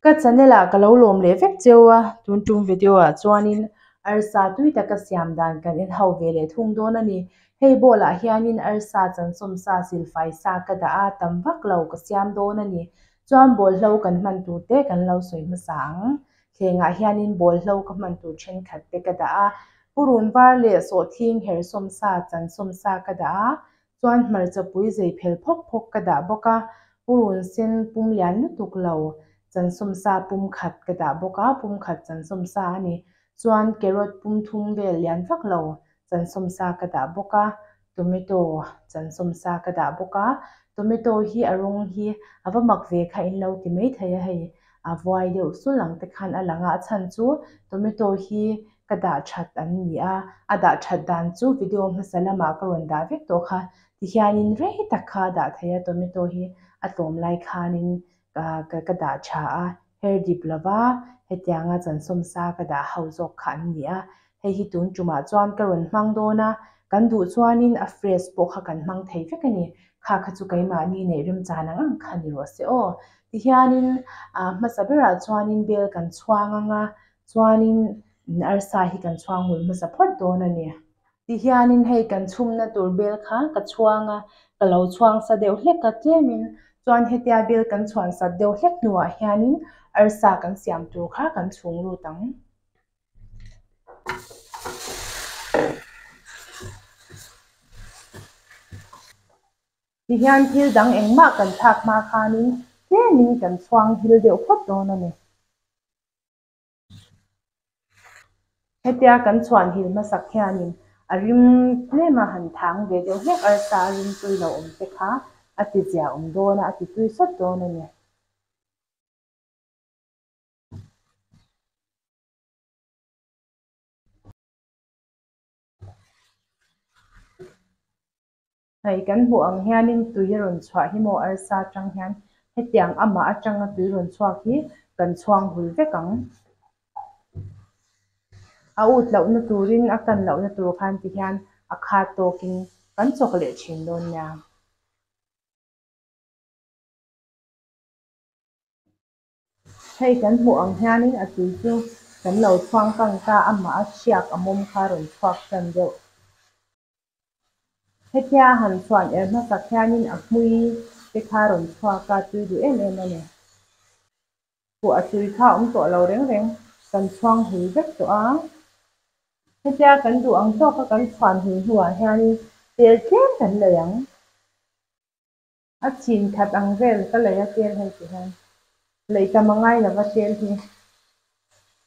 Ka channel ah ka lo lawm leh vek cheu a, tun tum video ah chuanin arsa tui taka siam dan kan en ho ve leh thung dawn a ni. Hei bowl ah hianin arsa chansawm sa, silfai sa ka dah a, tam vak lo ka siam dawn a ni. Chuan bowl hlo kan hman tur te kan lo sawi hmasa ang. thlengah hianin bawlhlo ka hman tur thenkhat te ka dah a, purun var leh sawhthing her sawmsa chan sawmsa ka dah a, chuan hmarcha pui zei phel phawk phawk ka dah bawk a, purun sen pum lian lutuk lo chan sawmsa pum khat ka dah bawk a, pum khat chan sawmsa a ni, chuan carrot pum thum vel lian vak lo chan sawmsa ka dah bawk a, Tomato chansawm sa ka dah bawk a, tomato hi a rawng hi a va mak ve kha in lo ti mai thei a, hei a vuai deuh sulh ang te khan a lang a, a chhan chu tomato hi ka dah that an ni a, a dah that dan chu video hmasa lamah ka rawn dah vek tawh kha tihian in rei tak kha a dah thei a, tomato hi a tlawm lai khanin ka dah tha a, her dip lo va, hetiang a chansawm sa ka dah ho zawk kha an ni a, hei hi tun tumah chuan ka rawn hmang dawn a, kan duh chuanin a fresh pawh kha kan hmang thei vek a ni, kha kha chu keimahni neih remchan ang ang kha ni rawh se aw. Tihianin ah hmasa berah chuanin bel kan chhuang anga chuanin arsa hi kan chhuang ngul hmasa phawt dawn a ni. Ti hianin hei kan chhumna tur vel kha ka chhuang a, ka lo chhuang sa deuh hlek a tlêmin chuan hetia vel kan chhuansat deuh hlek hnuah hianin arsa kan siam tur kha kan chhûng lût ang. Ti hian thil dang engmah kan thlâk hma khânin tlêmin kan chhuang hil deuh phawt dâwn a ni. Hetia kan chhuanhil hmasak hianin a rim tlem a han thang ve deuh hlek arsa a rim tui lo awm te kha a ti zia awm dawn a, a ti tui sawt dawn a ni. Hei kan hmuh ang hianin tui a rawn chhuah hi maw arsa atang hian hetiang amah atanga tui rawn chhuak hi kan chhuang hul vek ang. A ut loh na turin a kan loh na tur khan ti hian a khat tawkin kan chawk leh thin dawn nia. Hei kan hmuh ang hianin a tui chu kan lo chhuang kang ta a mah a hriak a mawm kha rawn chhuak tan deuh. Hetia han chhuan er hmasak hianin a hmui te kha rawn chhuak a tui duh em em a ni. Pawh a tui kha awm tawh lo reng reng kan chhuang hul vek tawh a. Hetia kan duh ang tawk a kan chhuan hul hnuah hianin tel tlem kan nei ang. A chhin that ang vel ka lei a tel hei ti hian lei tam a ngai lo va tel hi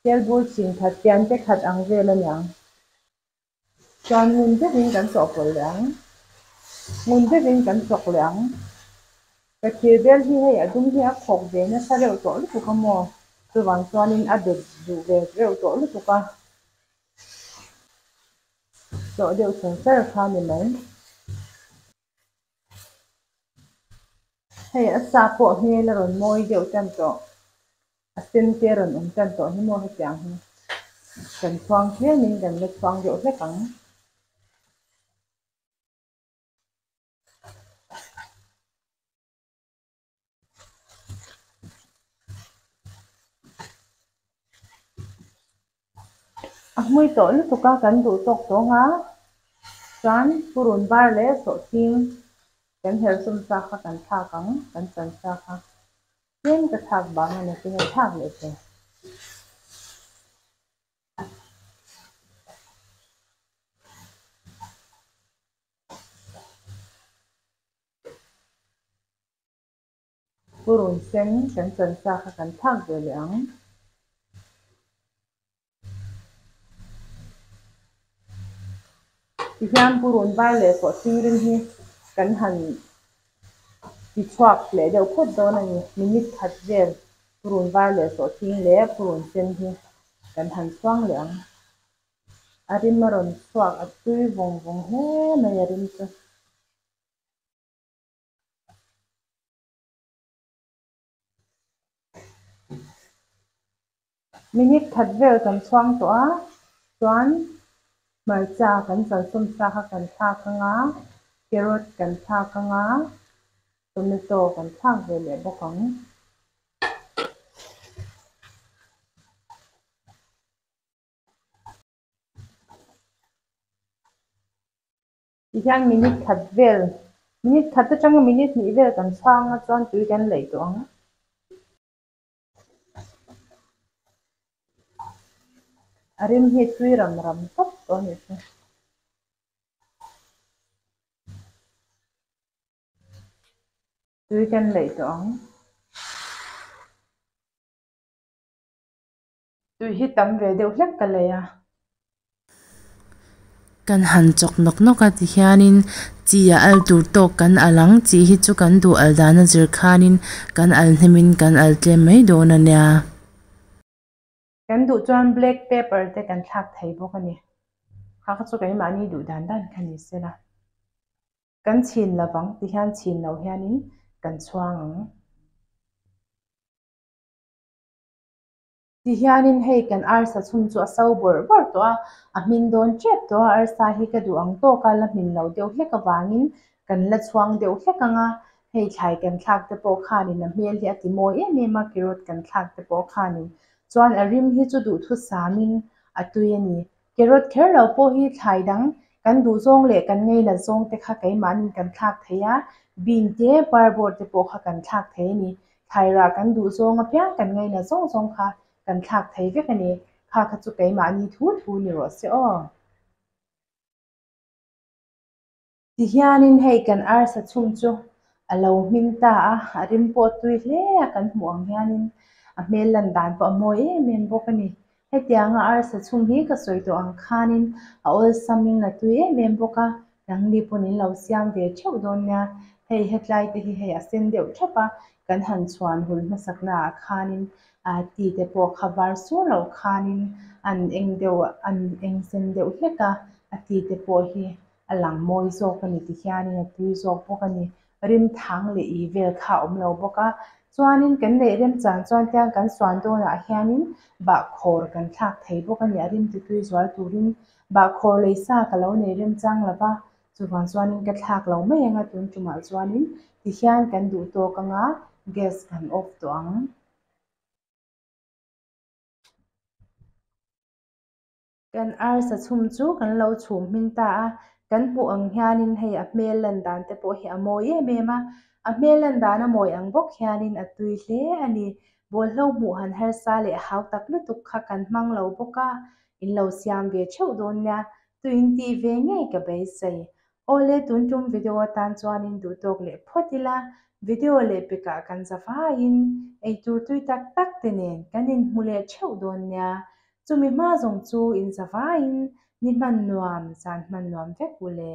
tel bul chhin that pian te khat ang vel a ni ang chuan ngun deuh in kan chawh pawlh leh ang ngun deuh in kan chawk leh ang ka thir bel hi hei a dum hi a khawk ve nasa reuh tawh lutuk a maw chuvang chuan in a det duh ve reuh tawh lutuk a chawh deuh chungchar kha a ni mai. Hei a sa pawh hmel a rawn mawi deuh tan tawh, a sen te a rawn awm tan tawh hi maw hetiang hi kan chuang ṭhian in kan la chuang deuh hlek ang. A hmui tawh lutuk a kan duh tawk tawng a chuan purun bar leh sawhting kan herh sawm sa kha kan thlak ang kan chan sa kha tlem ka thlak bang a ni ka herh thlak leh che. Pu Run Sen kan chanchaa kha kan thlak ve leh ang. Tihian Pu Run Bar leh Kaw Singrim hi kan han ti chhuak leh deuh phawt dawn a ni. Minute khat vel Pu Run Bar leh Kaw Sing leh Pu Run Sen hi kan han chuang leh ang. A rim a rawn chhuak a tui vawng vawng hle mai a rim chu. Minute that vel kan chhuang tawh a, chuan hmarcha kan chaltum sa kha kan thlak ang a, carrot kan thlak ang a, tomato kan thlak ve leh bawk ang. Tihian minute khat vel, minute khat te tanga minute hnih vel kan chhang a chuan tui kan laih tawh ang. A rim hi tui ram ram tawp tawh a nih chu. Tui kan laih tawh ang. Tui hi tam ve deuh hlek ka lei a. Kan han chawk nawk nawk a ti hianin chi a al tur tawk kan al ang, chi hi chu kan duh al dan a zir khanin kan al hnemin kan al tlem mai dawn a nia. Kan duh chuan black pepper te kan thlak thei bawk a ni. Kha kha chu keimahni duh dan dan kha ni sela. Kan chhin lo vang ti hian chhin lo hianin kan chhuang ang. Tihianin hei kan arsa chhung chu a so bawrh bawrh tawh a, a hming dawn ṭep tawh a, arsa hi ka duh ang tawk a, la hmin lo deuh hlek avangin kan la chhuang deuh hlek ang a, hei thlai kan thlak te pawh khanin a hmel hi a ti mawi em em a, Kirot kan thlak te pawh khanin chuan a rim hi chu duhthusam in a tui a ni. Carrot kher lo pawh hi thlai dang kan duh zawng leh kan ngei nat zawng te kha keimahnin kan thlak thei a, bean te parbawr te pawh kha kan thlak thei a ni. Thlai rah kan duh zawng apiang kan ngei nat zawng zawng kha kan thlak thei vek a ni. Kha kha chu keimahni thu thu ni rawh se aw. Tihianin hei kan arsa chhung chu a lo hming ta a, a rim pawh a tui hle a, kan hmuh ang hianin a hmel lan dan pawh a mawi em em bawk a ni. Hetianga arsa chhung hi ka sawi tawh ang khanin a awlsamin a tui em em bawk a, Rangni pawn in lo siam ve theuh dawn nia, hei hetlai te hi hei a sen deuh thap a, kan han chhuan hul hmasaknaah khanin ti te pawh kha var sur loh khanin a an eng deuh, a an eng sen deuh hlek a, a ti te pawh hi. a lang mawi zawk a ni ti hianin a tui zawk bawk a ni. Rim thang leh ih vel kha a awm lo bawk a, chuanin kan neih remchang chuan tiang kan suan dawnah hianin bahkhawr kan thlak thei bawk a ni. A rim tutui zual turin bahkhawr lei sa ka lo nei remchang lo va, chuvang chuanin ka thlak lo mai ang a, tun tumah chuanin ti hian kan duh tawk ang a, gas kan off tawh ang. Kan arsa chhum chu kan lo chhum hming ta a, kan hmuh ang hianin hei a hmel lan dan te pawh hi a mawi em em a, a hmel lan dan a mawi ang bawk hianin a tui hle a ni. Bawlhhlawh hmuh han harsa leh hau tak lutuk kha kan hmang lo bawk a, in lo siam ve theuh dawn nia, tuiin tih ve ngei ka beisei. Aw le tun tum video atan chuanin duh tawk leh phawt ila, video leh pekah kan za faiin eitur tui tak tak te nen kan inhmu leh theuh dawn nia, chumi hma zawng chu in za faiin ni hman nuam, zan hman nuam vek ule.